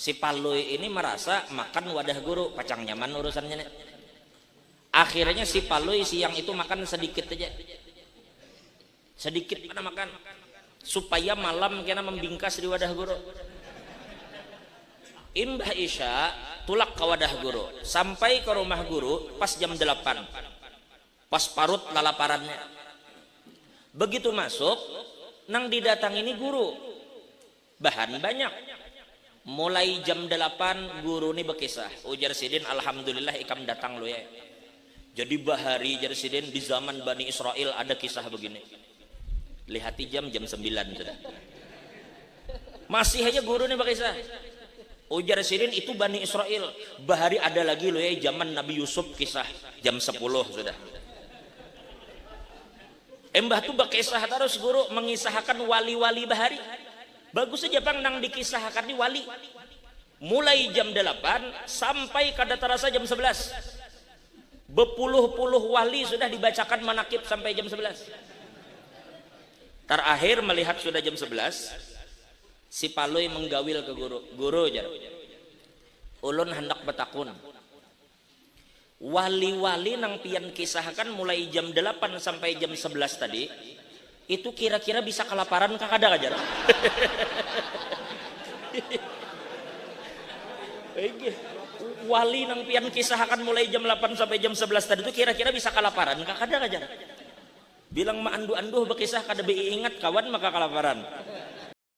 Si Palui ini marasa makan wadah guru, pacang nyaman urusannya ni. Akhirnya si Palui siang itu makan sadikit haja. Sadikit banar makan, supaya malam kena mambingkas di wadah guru. Imbah isya, tulak ka wadah guru. Sampai ka rumah guru pas jam dalapan, pas parut lalaparannya. Begitu masuk, nang didatangi ni guru. Bahan banyak. Mulai jam dalapan guru ni bakisah, ujar sidin alhamdulillah ikam datang Lui ai. Jadi bahari jar sidin di zaman Bani Israil ada kisah bagini. Lihati jam, jam sambilan sudah. Masih haja guru ni bakisah. Ujar sidin itu Bani Israil, bahari ada lagi Lui ai zaman Nabi Yusuf kisah, jam sapuluh sudah. Imbah tu bakisah tarus guru mangisahakan wali-wali bahari. Bagus haja pang nang dikisahakan ni wali. Mulai jam dalapan sampai kada tarasa jam sabalas. Bapuluh-puluh wali sudah dibacakan manakib sampai jam sabalas. Tarakhir malihat sudah jam sabalas, si Palui manggawil ka guru. Guru jar, ulun handak batakun. Wali-wali nang pian kisahkan mulai jam dalapan sampai jam sebelas tadi, itu kira-kira bisa kalaparan kah kada kah jar? Wali nang pian kisahkan mulai jam lapan sampai jam sebelas tadi tu kira-kira bisa kalaparan kah kada kah jar? Bilang ma anduh-anduh bakisah kada baiingat kawan maka kalaparan.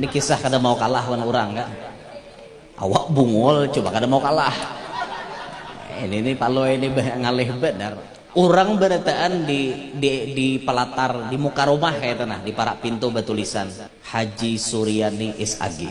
Ini kisah kada mau kalah wan orang kan. Awak bungul coba kada mau kalah. Ini nih palui ini ngalih benar. Orang berataan di di di pelatar di muka rumah kayak itu nah di parak pintu batulisan Haji Suryani SAG.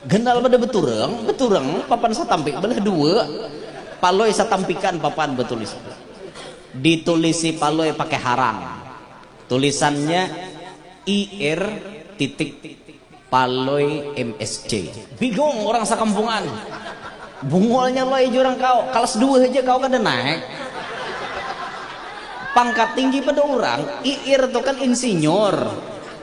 Ganal pada beturang, beturang papan satampik belah dua, Palui satampikan papan betulis. Ditulisi Palui pakai harang. Tulisannya IR titik Palui MSC. Bingung urang sakampungan. Bungulnya Lui jurang kau, kalas dua haja kau kada naik. Pangkat tinggi pada urang, IR tu kan insinyur.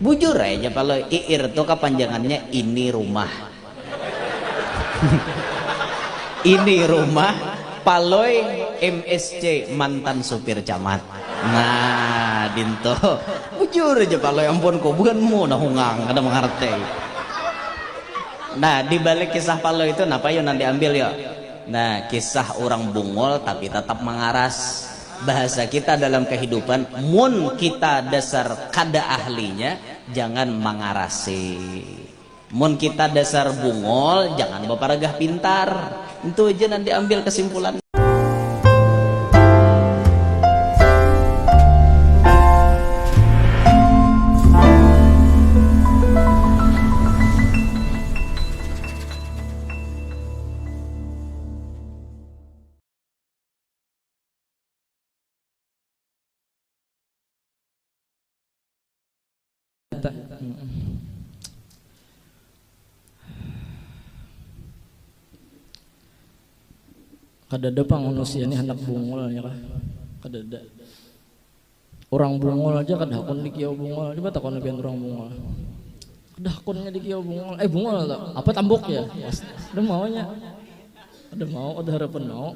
Bujur ai ja kalo iir tu kapanjangannya ini rumah. Ini rumah Palui msc mantan supir camat. Nah dintu. Bujur ja palui ampun kubuhan mu nah hungang kada mangarti. Nah dibalik kisah palui tu napa yu nang diambil yu. Nah kisah urang bungul tapi tatap mangaras. bahasa kita dalam kahidupan mun kita dasar kada ahlinya jangan mangarasi mun kita dasar bungol jangan baparagah pintar ntu haja nang diambil kasimpulannya. Kadada pang manusia ni handak bungul nya kah kadada. Urang Bungul aja kada hakun di Kiau Bungul, coba takuni pian urang Bungul. Kada hakun nya di Kiau Bungul, eh Bungul tu, apa tambuk jar. Kada mau nya, kada mau, kada harapan mau.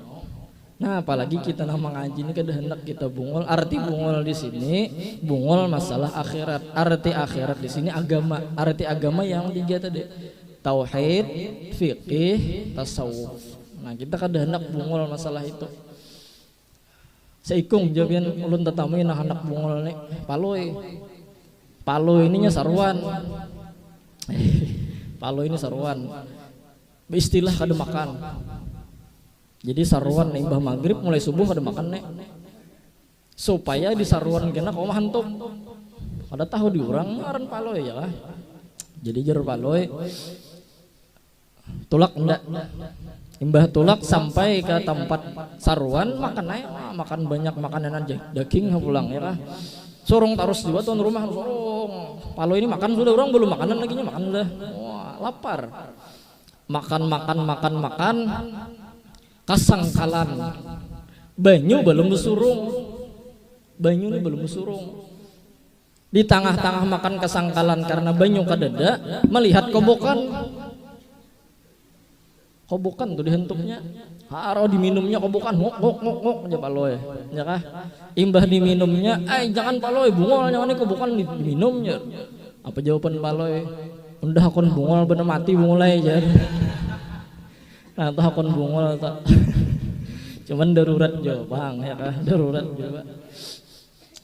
Nah apalagi kita nang mangaji ni kada handak kita Bungul, arti Bungul di sini, Bungul masalah akhirat, arti akhirat di sini agama, arti agama yang tiga tadi, tauhid, fiqih, tasawuf. Nah kita kada handak Bungul masalah itu. Seikung ja pian ulun tatamui nang handak bungul ni, Palui. Palui ini nya saruan. Palui ini saruan. Beistilah kada makan. Jadi saruan imbah magrib mulai subuh kada makan ni. Supaya di saruan kena kawa mahantup. Kada tahu diurang ngaran Palui jar lah. Jadi jar Palui. Tulak enda. Imbah tulak sampai ka tampat saruan makan ai wah makan banyak makananan daging ha pulang ya kah. Surung tarus jua tuan rumah surung. Palui ni makan sudah urang balum makanan lagi nya makan sudah. Wah lapar. Makan makan makan makan kasangkalan banyu balum basurung. Banyu ni balum basurung. Di tangah-tangah makan kasangkalan karna banyu kadada, malihat kobokan. Kobokan tu dihantuknya, harau diminumnya kobokan, nguk nguk nguk nguk jar Palui, ya kah. Imbah diminumnya, ai jangan Palui, bungul nyawa ni kobokan diminum jar. Apa jawaban Palui, unda hakun bungul banar mati bungul ai jar. Nah tu hakun bungul tu. Cuman darurat jua pang ya kah, darurat jua.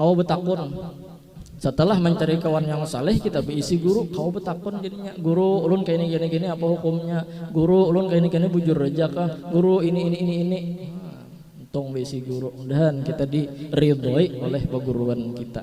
Kawa betakun, setelah mencari kawan yang saleh kita beisi guru kawa betakun jadinya guru ulun kaini kaini kaini apa hukumnya guru ulun kaini kaini bujur haja kah guru ini ini ini ini untung beisi guru mudahan kita diridhoi oleh baguruan kita.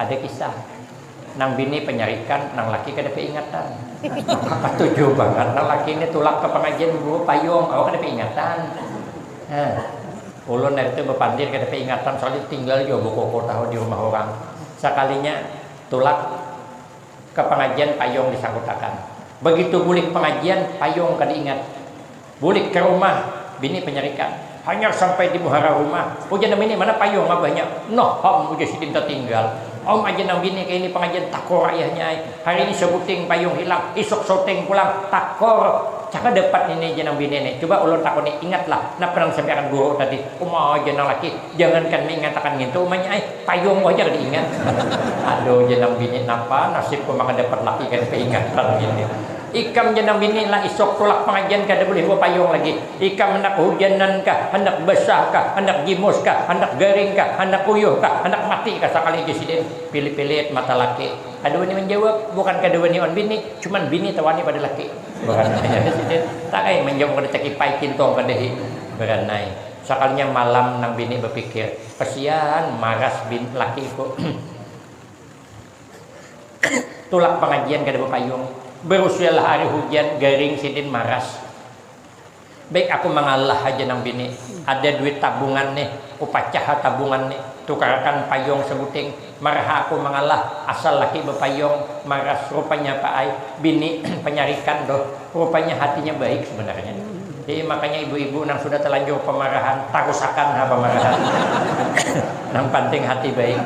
Ada kisah, nang bini panyarikan, nang laki kada kaingatan. Maka katuju bangat nang laki ni tulak ka pangajian membawa payung, awak kada kaingatan. Hah. Ulun hari tu bapandir kada kaingatan soalnya tatinggal jua bakoko tahu di rumah urang. Sakalinya tulak ka pangajian payung disangkutakan. Bagitu bulik pangajian payung kada ingat. Bulik ka rumah, bini panyarikan. Hanyar sampai di muhara rumah, ujar nang bini, mana payung abahnya. Noh ham, ujar sidin tatinggal. Om aja nang bini kaini pangajian takor ayahnya ai. Hari ini sabuting payung hilang, isuk sauting pulang, takor. Caka dapat ini jar nang bini ni. Cuba ulun takuni, ingatlah napa nang disampaiakan guru tadi. Uma jar nang laki, jangankan mingatakan ngintu umanya ai, payungku haja kada ingat. Aduh jar nang bini, napa nasibku maka dapat laki kada kaingatan ngini. Ikam ja nang bini lah isok tulak pangajian kada bulih bapayung lagi. Ikam handak hujanan kah, handak basah kah, handak gimus kah, handak garing kah, handak uyuh kah, handak mati kah sakali ja sidin pilit-pilit mata laki. Kada wani manjawab, bukan kada wani wan bini, cuman bini tawani pada laki. Baranai ai sidin, tang ai manjawab kada takipai, kintung kada hi. Baranai. Sakalinya malam nang bini bapikir, kasian maras bini lakiku. Tulak pangajian kada bapayung. Barusialah ari hujan, garing, sidin maras. Baik aku mangalah haja nang bini. Ada duit tabungan nih, kupacah ha tabungan nih. Tukarakan payung sabuting. Maraha aku mangalah, asal laki bapayung, maras rupanya pa ai. Bini panyarikan tuh. Rupanya hatinya baik sebenarnya. Jadi makanya ibu-ibu nang sudah talanjur pamarahan tarusakan ha pamarahan. nang panting hati baik.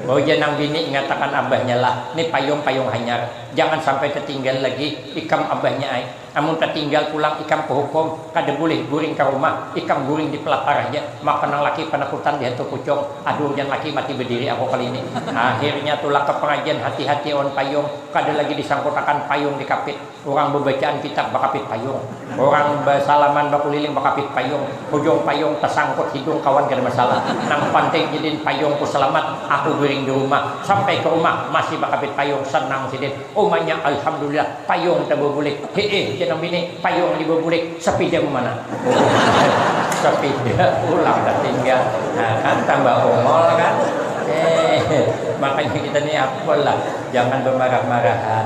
Bau ja nang bini ingatakan abahnya lah, ni payung-payung hanyar, jangan sampai tatinggal lagi ikam abahnya ai. Amun tatinggal pulang ikam kahukum, kada bulih guring ka rumah, ikam guring di palatar haja, maka nang laki panakutan lihat tu pucung, aduh jan laki mati badiri aku kali ini. Akhirnya tulak ka pangajian hati-hati awan payung, kada lagi disangkutakan payung di kapit. Urang babacaan kitab bakapit payung, urang basalaman bakuliling bakapit payung, hujung payung tasangkut hidung kawan kada masalah, nang panting sidin payungku salamat, aku guring di rumah, sampai ka rumah masih bakapit payung sanang sidin, umanya alhamdulillah payung tababulik, hiih jar nang bini payung ni babulik sapidamu mana? Uhuh sapida pulang tatinggal, nah kan tambah ongol kan, heeh makanya kita ni apa lah jangan bamarah-marahan.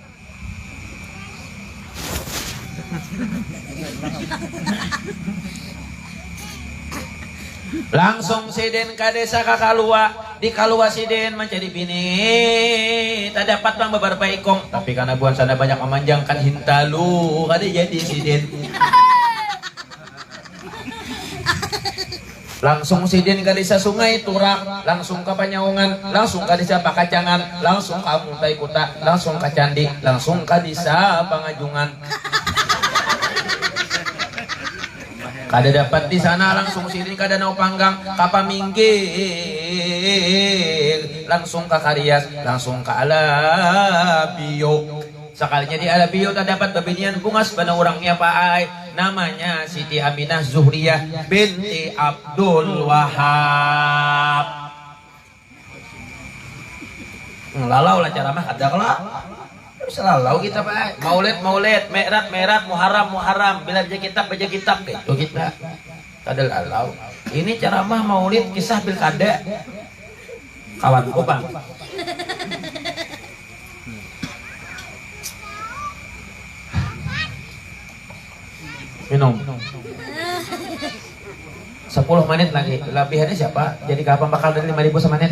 Langsung sidin ka desa ka Kalua. Di Kalua sidin mancari bini. Tadapat pang babarapa ikung. Tapi kana buhan sana banyak mamanjangkan hintalu. Kada jadi sidin. Langsung sidin ka desa Sungai Turak, langsung ka Panyaungan, langsung ka desa Pakacangan, langsung ka Muntai Kuta, langsung ka Candi, langsung ka desa Pangajungan. Kada dapat di sana, langsung sidin ka Danau Panggang, ka Paminggir, langsung ka Karias, langsung ka Alabio. Sakalinya di Alabio tadapat babinian bungas banar urang nya pa ai, namanya Siti Aminah Zuhriyah binti Abdul Wahab. Lalau lah caramah kada kalo? Kada usah lalau kita pa ai, maulid maulid, mi'rad mi'rad, muharram muharram, bila baca kitab baca kitab kaitu kita. Kadalalau, ini caramah maulid kisah pilkada kawanku pang. Minum. Sapuluh manit lagi, labihannya siapa? Jadi kawa pambakal dari lima ribu samanit.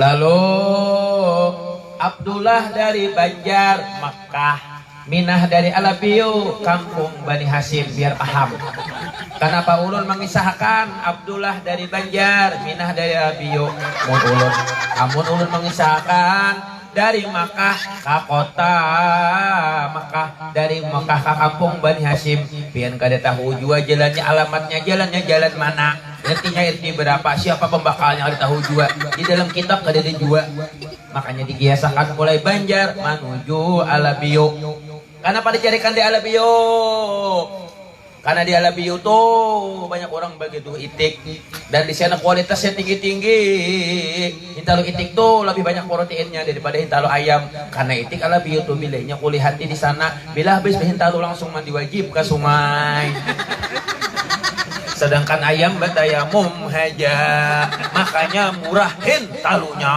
Lalu Abdullah dari Banjar, Makkah, Minah dari Alabiu, kampung Bani Hasyim, biar paham. Kanapa ulun mangisahakan Abdullah dari Banjar, Minah dari Alabiu? Mun ulun, amun ulun mangisahakan. Dari Makkah ka kota Makkah, dari Makkah ka kampung Bani Hasyim. Pian kada tahu jua jalannya, alamatnya, jalannya jalan mana, RT-nya RT berapa, siapa pembakalnya kada tahu jua, di dalam kitab kadada jua. Makanya digiasakan mulai Banjar manuju Alabio. Kanapa dicarikan di Alabio? Kana di alam biu tu banyak urang bagituh itik dan di sana kualitasnya tinggi-tinggi. Hintalu itik tu labih banyak proteinnya daripada hintalu ayam. Kana itik alam biu tu bilainya kulihati di sana. Bila habis bahintalu langsung mandi wajib ka sungai. Sadangkan ayam batayamum haja. Makanya murah hintalunya.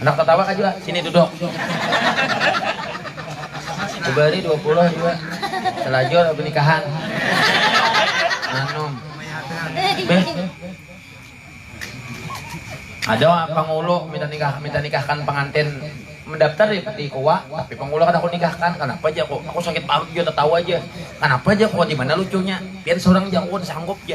Handak tatawa kah jua? Sini duduk. Kubari dua puluh jua. Selajur aku nikahan. Anum. Beh. Ada pangulu minta nikah minta nikahkan pengantin mendaftar di, di Kowa, tapi pangulu kada aku nikahkan. Kenapa aja aku? Aku sakit parut juga tertawa aja. Kenapa aja aku? Di mana lucunya? Pian seorang jago sanggup aja.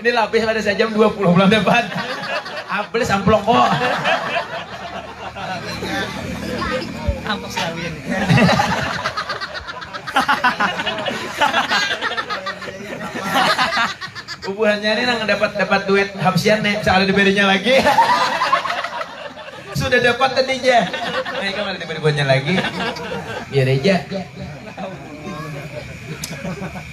Ini labih kada sajam dua puluh pulang dapat. Ablis amplong ko. Ampus lawin. Bubuhannya ini nang dapat dapat duit habsian nih, bisa ada diberinya lagi. Sudah dapat tadi aja. Nah, ini ada diberi buatnya lagi. Biar aja.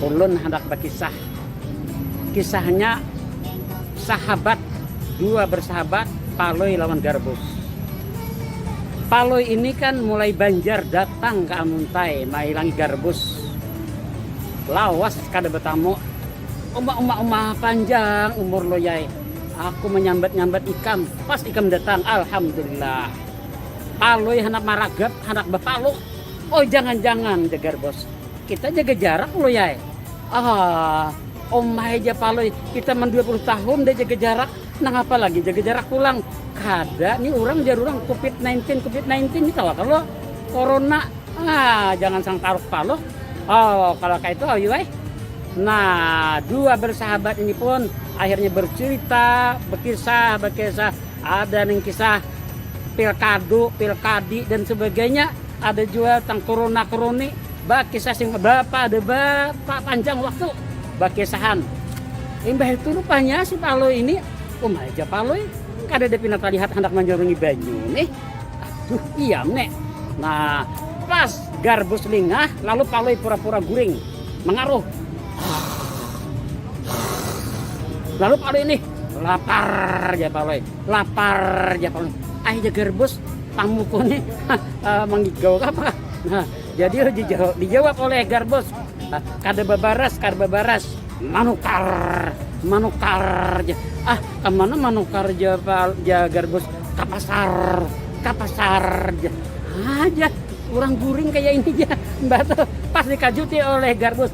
Ulun handak bakisah. Kisahnya sahabat, dua bersahabat Palui lawan Garbus. Palui ini kan mulai banjar datang ke Amuntai mailangi Garbus. Lawas kada betamu. Uma uma uma panjang umur loyai. Aku menyambat-nyambat ikam, pas ikam datang, alhamdulillah. Palui handak maragap, handak bapaluk, Oh jangan jangan jegar bos kita jaga jarak lo yae ah omahe ja palui kita man 20 tahun udah jaga jarak nang apa lagi jaga jarak pulang kada ni urang jar urang covid 19 covid 19 ni tawa kalo corona ah jangan sang taruk palo oh kalau kayak itu awi wae Nah, dua bersahabat ini pun akhirnya bercerita, berkisah, berkisah. Ada yang kisah pilkadu pilkadi dan sebagainya ada juga tentang corona corona bakisah sing berapa ada berapa panjang waktu bakisahan imbah itu rupanya si Palui ini um aja Palui kada ada pindah terlihat hendak menjarungi banyu nih aduh iya nek nah pas garbus lingah lalu Palui pura-pura guring mengaruh lalu Palui nih lapar jar palui lapar jar palui ai ja garbus pamuku ni manggigau kah apa kah nah jadi dijawab oleh garbus kada babaras kada babaras manukar manukar ja ah kamana manukar ja ja garbus ka pasar ka pasar ja ha ja urang guring kaya ini ja mbah tu pas dikajuti oleh garbus.